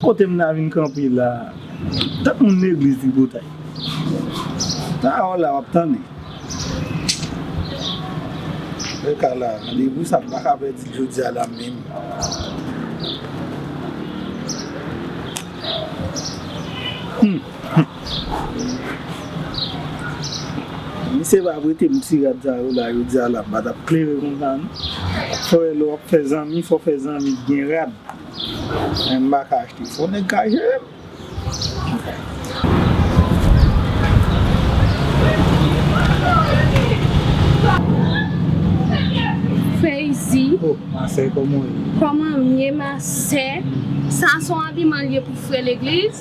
Kote m ta vin kanpe la a? Tank moun legliz tripotay. Pawòl la wap tande. Bèl kay la a. Randevou sa m pa ka pèdi l jodi a la a menm. Humm. Humm misye pa prete m ti rad sa yo la yo di ala pa tap klere konsa non fò wè lè wap fè zanmi fò fè zanmi k gen rad men m paka achte fò nèg ka jere m Feyzi oh masè kòman ou ye kòman m ye masè sa son abiman l ye pou frè legliz.